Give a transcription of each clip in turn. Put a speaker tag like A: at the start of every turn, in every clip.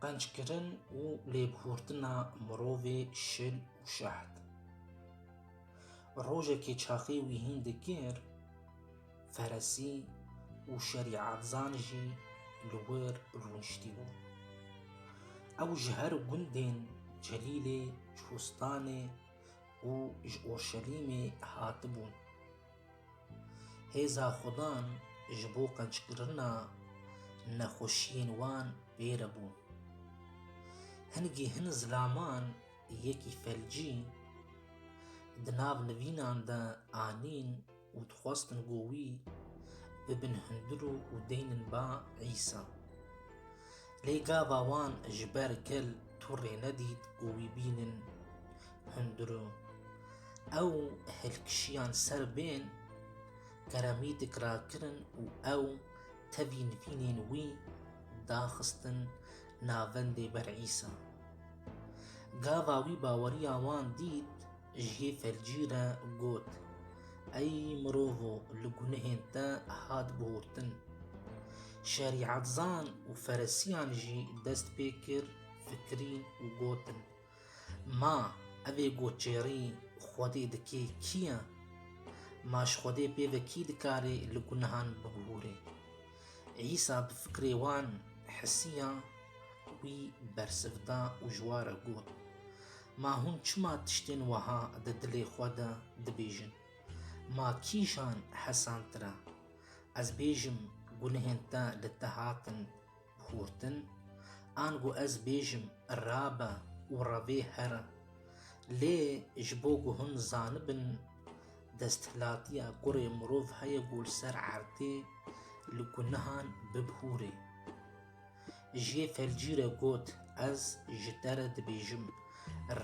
A: Qenckirin û lêbihurtina mirovê şil û şeht. Rojekê çaxê wî hîn dikir, feresî û şerîetzan jî li wir rûniştîbû. Ew ji her gundên Celîlê, Çûstanê û ji Orşelîmê hatibûn. Hêza Xudan ji bo qenckirina nexweşiyên wan pêre bû. Hin gih hin zilaman yekî felcî di nav nivînan de anîn û dixwestin ku wî bibin hundir û deynên ba Îsa. Lê gava wan ji ber gel tu rê nedît û wî bînin hundir û ew hilkişiyan ser bên Keremîdik rakirin û ew tevî nivînên wî daxistin navendê ber Îsa. Gava wî baweriya wan dît jiyê felcî re got, Ey mirovo li gunehên te hat bihurtin. Şerîetzan û feresiyan jî dest pê kir fikirîn û gotin, Ma evê goçêrî Xwedê dikê kî ye? Ma ji Xwedê pê ve kî dikarê li gunehan bibihûrê? Îsa bi fikirê wan hisiya wî bersiv da û ji wa re got, Ma hûn çima tiştên weha di dilê xwe de dibêjin? Ma kîjan hesantir e? Ez bêjim gunehên te li te hatin xurtin, ango ez bêjim rabe û revê here. Lê ji bo ku hûn zanibin desthilatiya kurê mirov heye ku li ser erdê li gunehan bibihûrê. Ji yê felcî re got, Ez ji te re dibêjim,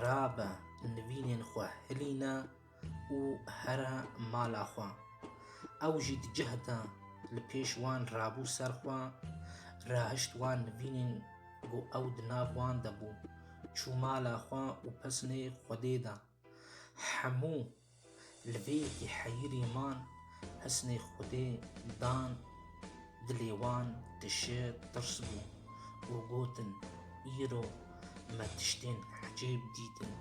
A: rabe nivînên xwe hilîne, û here mala xwe. Ew jî di cih de li pêş wan rabû ser xwe, rahişt wan nivînên ku ew di nav wan de bû. Çû mala xwe û pesnê Xwedê de. Hemû li vê yekî heyirî man. Hisnê Xwedê dan dilê wan tişê tirs bû û gotin, Îro me tiştên ecêb dîtin.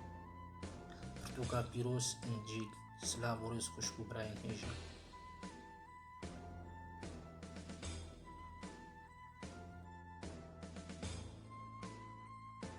A: Pirtûka pîroz Încîl Silav û rêz xwişk û birayên hêja.